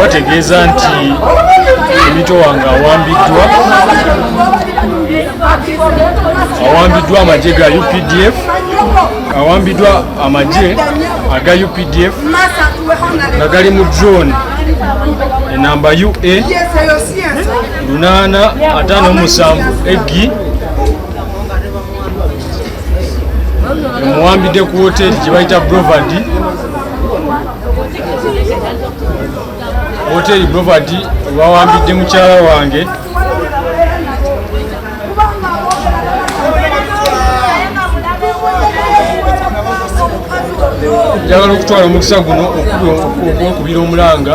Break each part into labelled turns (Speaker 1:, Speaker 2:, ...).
Speaker 1: bategeeza nti emito wange awambiddwa awambiddwa amagye ga updf awambiddwa amagye aga updf nga gali mu drone enamba ua 857 egi omuwambidde ku woteri gyebayita brovad woteri brovad wawambidde mukyala wange njagala okutwala omukisa guno okubira omulanga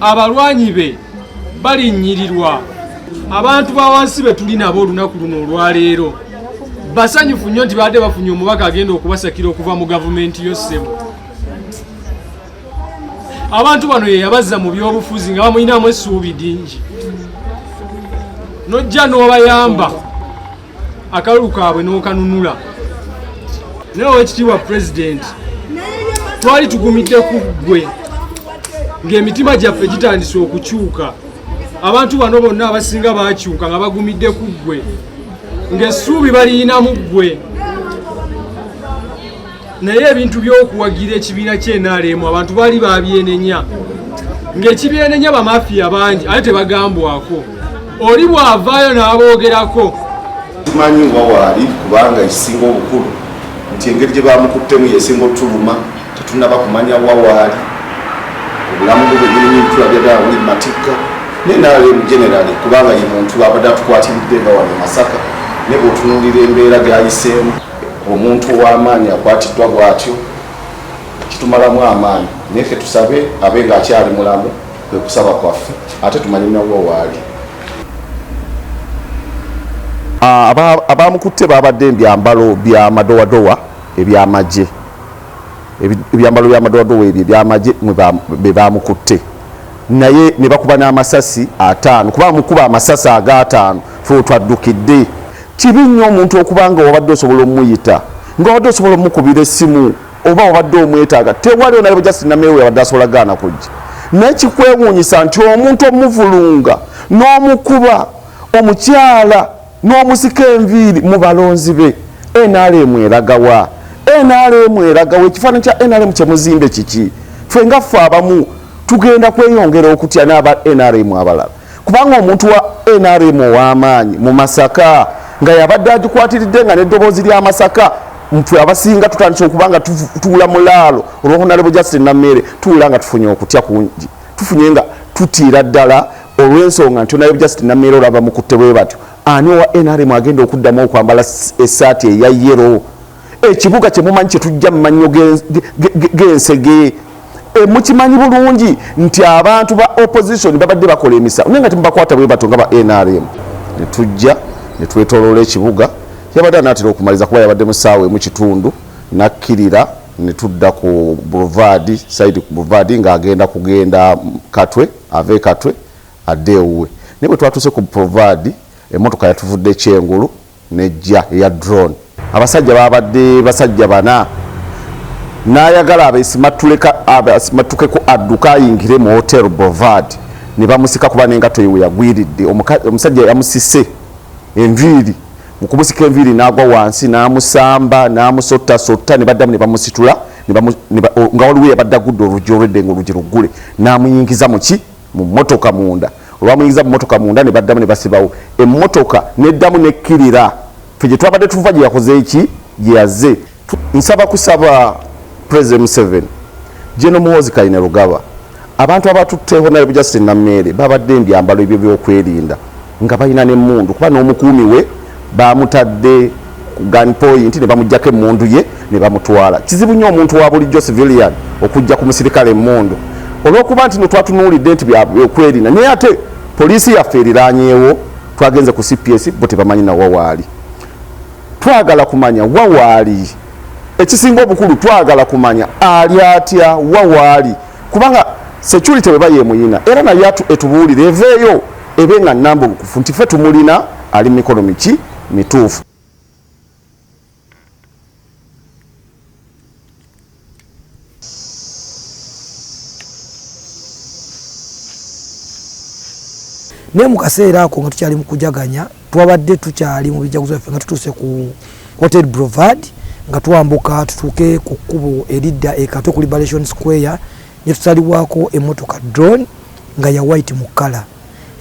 Speaker 1: abalwanyi be balinnyirirwa abantu ba wansi be tuli nabo olunaku luno olwaleero basanyufu nnyo nti baadde bafunye omubaka agenda okubasakira okuva mu gavumenti yo ssebo abantu bano yeyabazza mu byobufuzi nga bamulinamu essuubi dingi nojja n'obayamba akalulu kaabwe n'okanunula naye owekitiibwa pulezidenti twali tugumidde ku ggwe ng'emitima gyaffe gitandise okukyuka abantu bano bonna abasinga bakyuka nga bagumidde ku ggwe ng'essuubi baliyinamu ggwe naye ebintu by'okuwagira ekibiina kyenaremu abantu baali babyenenya ng'ekibyenenya bamafiya bangi ate tebagambwako oli bw'avaayo n'aboogerako tumanyi
Speaker 2: wa waali kubanga ekisinga obukulu nti engeri gye bamukuttemu yesinga otuluma tetunaba kumanya wa waali obulamu bwe bwenyini ntulabyagala buli matikka naye nalemu generali kubanga ye muntu abadde atukwatiridde nga wano masaka ne bwotunulira embeera gayiseemu omuntu ow'amaanyi akwatiddwa bw'atyo kitumalamu amaanyi naye fe tusabe abe ng'akyali mulamu kwe kusaba kwaffe ate tumanye nawo waali ah, abaamukutte baabadde ebyambalo bya madowadowa ebyamagye ebyambalo bya madowadowa ebyo ebyamagye be baamukutte naye ne bakuba n'amasasi ataano kuba amukuba amasasi agaataano fe otwaddukidde Kibi nnyo omuntu okuba nga wabadde osobola omuyita, nga wabadde osobola omukubira essimu oba wabadde omwetaaga tewali onalaba just namewe yabadde asobola gaana kujja naye kikwewuunyisa nti omuntu omuvulunga n'omukuba omukyala n'omusika enviiri mu balonzi be nrm eragawa nrm eragawa ekifaananyi kya nrm kyemuzimbe kiki ffe nga ffe abamu tugenda kweyongera okutya n'aba nrm abalala kubanga omuntu wa nrm ow'amaanyi mu masaka nga yabadde agikwatiridde nga n'eddoboozi lya masaka mfe abasinga tutandise okuba nga tuula mulaalo olwohonalebo justi nameere tuula nga tufunye okutya kungi tufunye nga tutiira ddala olw'ensonga nti onalebo justi nameere olaba mukutte bwe batyo ani owa nrm agenda okuddamu okwambala esaati eya yero ekibuga kyemumanyi kyetujja mumannyo g'ensege eh, mukimanyi bulungi nti abantu ba opposition babadde bakola emisawo naye nga temubakwata bwe bato nga ba nrm netujja netwetoloola ekibuga yabadde anaatera okumaliza kuba yabadde musaawa emu kitundu nakkirira netudda ku boulevard saidi ku boulevard ng'agenda kugenda katwe ava ekatwe adde ewuwe naye bwe twatuuse ku boulevard emmotoka yatuvudde ekyengulu n'eggya eya drone. Abasajja baabadde basajja bana n'ayagala abeesimattukeku adduke ayingire mu Hotel Boulevard ne bamusika kuba n'engatto ye we yagwiridde. Omusajja yamusise enviiri, mu kumusika enviiri n'agwa wansi n'amusamba n'amusottasotta ne baddamu ne bamusitula nga waliwo eyabadde aggudde oluggi olw'edda ng'oluggi luggule n'amuyingiza mu ki? mu mmotoka munda. Olwamuyingiza mu mmotoka munda ne baddamu ne basibawo emmotoka n'eddamu n'ekkirira. Ffe gye twabadde tuva gye yakoze ki? Gye yazze. Nsaba kusaba Pulezidenti Museveni, General Muhoozi Kainerugaba, abantu abatutte Honarebo Justine Nameere babadde mu byambalo ebyo by'okwerinda nga balina n'emmundu kuba n'omukuumi we baamutadde ku gun point ne bamujjako emmundu ye ne bamutwala kizibu nnyo omuntu wa bulijjo civilian okujja ku musirikale emmundu olw'okuba nti no twatunuulidde nti byokwerinda naye ate poliisi yaffe eriranyeewo twagenze ku cps bo tebamanyi na wawaali twagala kumanya wawaali ekisinga obukulu twagala kumanya ali atya wawaali kubanga security bweba yemuyina era naye etubuulire eveeyo ebe nga nambukufu nti fe tumulina ali mumikono miki mituufu
Speaker 3: naye mu kaseera ako nga tukyali mu kujaganya twabadde tukyali mu bijaguzo byaffe nga tutuuse ku hotel brovad nga twambuka tutuuke ku kkubo eridda ekato ku liberation square ne tusaliwako emotoka drone nga ya white mu kkala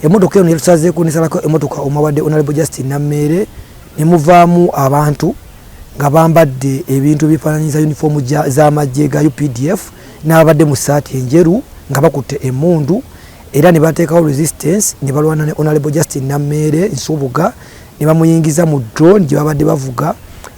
Speaker 3: Emotoka eno yatusazeeko nesalako emotoka omwabadde Honorable Justin Nammeere ne muvaamu abantu nga bambadde ebintu ebifaananyiza yunifoomu z'amagye ga UPDF n'ababadde mu ssaati enjeru nga bakutte emmundu era ne bateekawo resistance ne balwana ne Honorable Justin Nammeere Nsubuga ne bamuyingiza mu drone gye babadde bavuga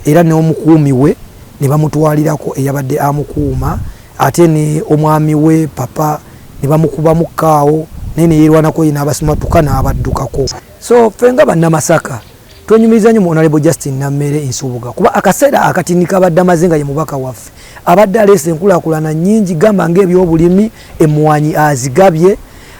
Speaker 3: era n'omukuumi we ne bamutwalirako eyabadde amukuuma ate ne omwami we papa ne bamukubamu kkaawo naye ne yeerwanako ye n'abasimattuka n'abaddukako. So ffe nga Bannamasaka twenyumiriza nnyo mu Honourable Justine Nammere Nsubuga kuba akaseera akatini k'abadde amaze nga ye mubaka waffe abadde aleese enkulaakulana nnyingi gamba ng'ebyobulimi, emmwanyi azigabye,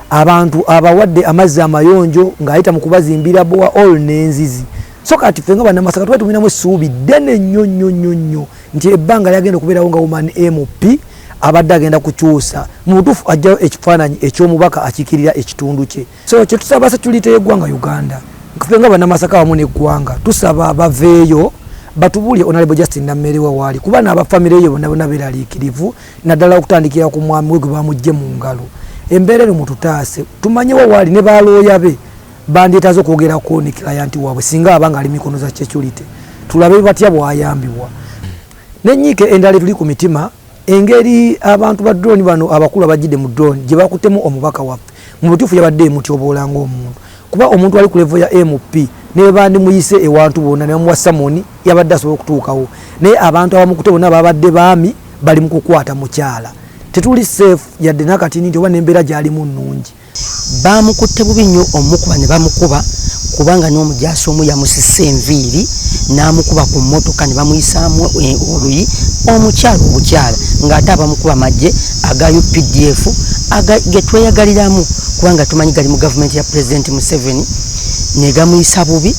Speaker 3: abantu abawadde amazzi amayonjo ng'ayita mu kubazimbira bbowa all n'enzizi. So kati ffe nga Bannamasaka tuba tumulinamu essuubi ddene nnyo nnyo nnyo nnyo. nti ebbanga lyagenda okubeerawo nga woman mp abadde agenda kukyusa mu butuufu ajjayo ekifaananyi eky'omubaka akiikirira ekitundu kye so kye tusaba sekulite y'eggwanga uganda fe nga banamasaka wamu n'eggwanga tusaba baveeyo batubuulire onalebo justin nammere wa waali kuba n'abafamire yo bona bona beeraliikirivu naddala okutandikira ku mwami we gwe bamujje mu ngalo embeera eno mututaase tumanyewo waali ne baalooya be Bandyetaaze okwogerako ne kilayanti waabwe singa aba ng'ali mikono za securite tulabe batya bwayambibwa. N'ennyiike endala etuli ku mitima engeri abantu ba drone bano abakulu abajjidde mu drone gye bakuttemu omubaka waffe mu butuufu yabadde emutyoboola ng'omuntu kuba omuntu ali ku levo ya mp ne bwe bandimuyise ewantu bonna ne bamuwa samoni yabadde asobola okutuukawo naye abantu abamukute bonna babadde baami bali mu kukwata mukyala tetuli safe yadde nakati nti oba n'embeera gyalimu nnungi Baamukutte
Speaker 4: bubi nnyo omukuba ne bamukuba kubanga n'omujaasi omu yamusisse enviiri n'amukuba ku mmotoka ne bamuyisaamu e, oluyi omukyala obukyala ng'ate abamukuba maggye aga updf ge tweyagaliramu kubanga tumanyi gali mu gavumenti ya pulezidenti museveni ne gamuyisa bubi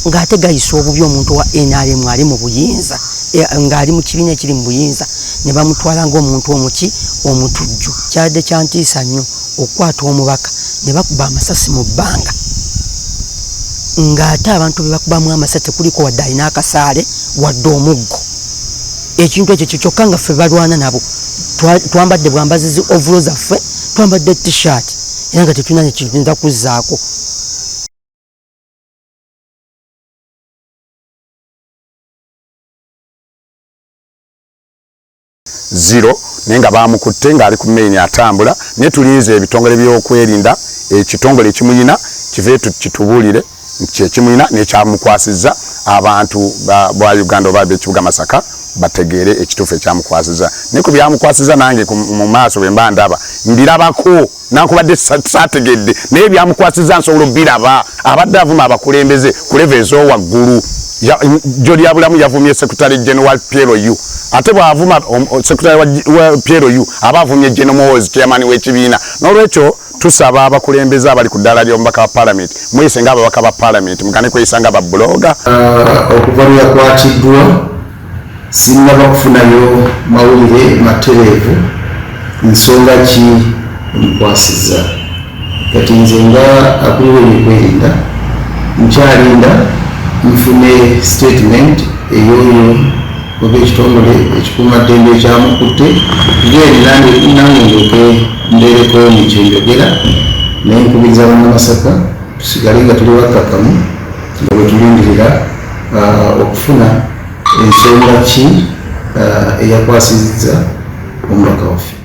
Speaker 4: ng'ate gayisa obubi omuntu wa nrm ali mu buyinza e, ng'ali mu kibiina ekiri mu buyinza ne bamutwala ng'omuntu omuki omutujju kyadde kyantiisa nnyo okukwata omubaka ne bakuba amasasi mu bbanga ng'ate abantu be bakubamu amasasi tekuliko wadde alina akasaale wadde omuggo ekintu ekyo kyo kyokka nga ffe balwana nabo twambadde bwambazi zi ovulo zaffe twambadde t-shirt era nga tetulina nekintu nza kuzzaako
Speaker 2: zero naye nga baamukutte ng'ali ku meyini atambula naye tulinze ebitongole by'okwerinda ekitongole ekimuyina kive kitubuulire nti kyekimuyina nekyamukwasiza abantu ba uganda oba bekibuga masaka bategeere ekituufu ekyamukwasiza naye ku byamukwasiza nange mu maaso bwe mba ndaba mbirabako nankubadde saategedde naye byamukwasiza nsobola obiraba abadde avuma abakulembeze ku leve ezowaggulu joli yabulamu yavumye secretary general piero u ate bwavuma secretary wa piero u aba avumye general mowes chairman w'ekibiina n'olwekyo tusaba abakulembeze abali ku ddaala ly'omubaka wa palamenti mweyise nga ababaka ba palamenti mugane kweyisa nga babuloga uh, okuva
Speaker 5: lweyakwatiddwa Sinnaba kufunayo mawulire matereevu nsonga ki emukwasizza. Kati nze nga akulira ebyokwerinda nkyalinda nfune sitetimenti ey'oyo oba ekitongole ekikuuma ddembe ekyamukutte then nange ndyoke mbeereko ne kye njogera naye nkubiriza Bannamasaka tusigale nga tuli bakkakkamu. nga bwe tulindirira uh, okufuna ensonga ki uh, eyakwasizza omubaka waffe.